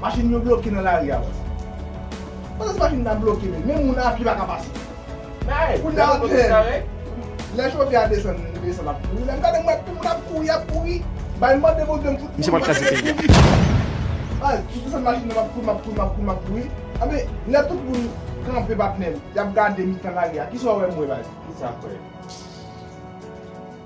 Machin yo bloke nan lari a wè sa. Pandan se machin ta bloke menm, menm moun a pye pa ka pase. Kounye a lap jwenn. Lè chofè a desann, li desann lap kouri. Lè m gade m wè tout moun ap kouri, ap kouri. Bay mande Bondye m fout kouri. Mwen rete kouri. Baz, m desann machin nan m ap kouri, m ap kouri, m ap kouri, m ap kouri. Anben, lè tout moun kanpe patnè m, y ap gade mitan lari a, kisa w wè m wè baz? Kisa k wè?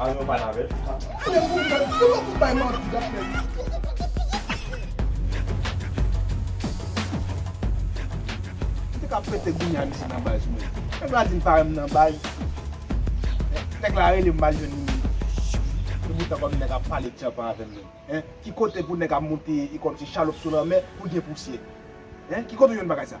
Al yon pa navèt. Tande pou mwen, pou nou fout bay manti dapre li. M te ka pete goumen a misye nan baz mwen. Nèg la di m pa wè m nan baz. Nèg la rele m m al jwenn li. Li moutre kòm nèg ap pale tyanpan avè m menm. Ki kote pou nèg ap moute kòmsi chalòp sou lanmè pou l gen pousyè. Ki kote ou jwenn bagay sa?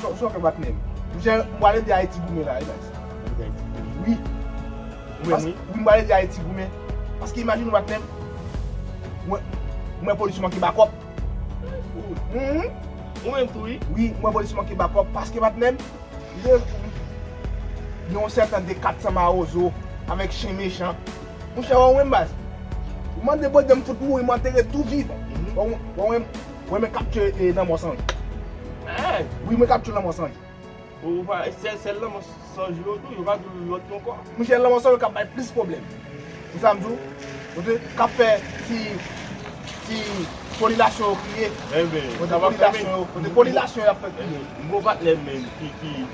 Sò fèm bat menm. Mnchè m pral ede Ayiti goumen la wi guys. Wi m pral ede Ayiti goumen. Paske imajine w bat menm. M wè polis yo manke bakòp. Ou menm tou wi. Wi m wè polis yo manke bakòp. Paske bat menm. Gen yon sèten de 400 mawozo avèk chen mechan. Mnchè wè w menm baz. Mande Bondye m fout mouri m antere tou vivan. Wè w menm. Mwen men kap tye e lanmò san ri. Eeh. Wi mwen kap tye lanmò san ri. Bon ou pa sèl sèl lanmò san ri yo tou yo pa di lòt yo ankò. Mwen se lanmò san ri kap bay plis pwoblèm. Ou sa m di w? Ou te kap fè ti ti kolilasyon yo kriye. Enben. Kote kolilasyon yo kote kolilasyon yo ap fè kriye. Bon patnè m menm ki ki.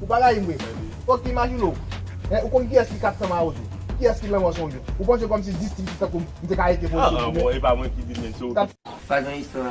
Ou pa rayi m vre? Ok imajine w Ou konn kiyès ki 400 mawozo? Kiyès ki lanmò son yo? Ou panse kòmsi distri se tankou m te ka rete pou yon sèl jounen? Sa gen istwa.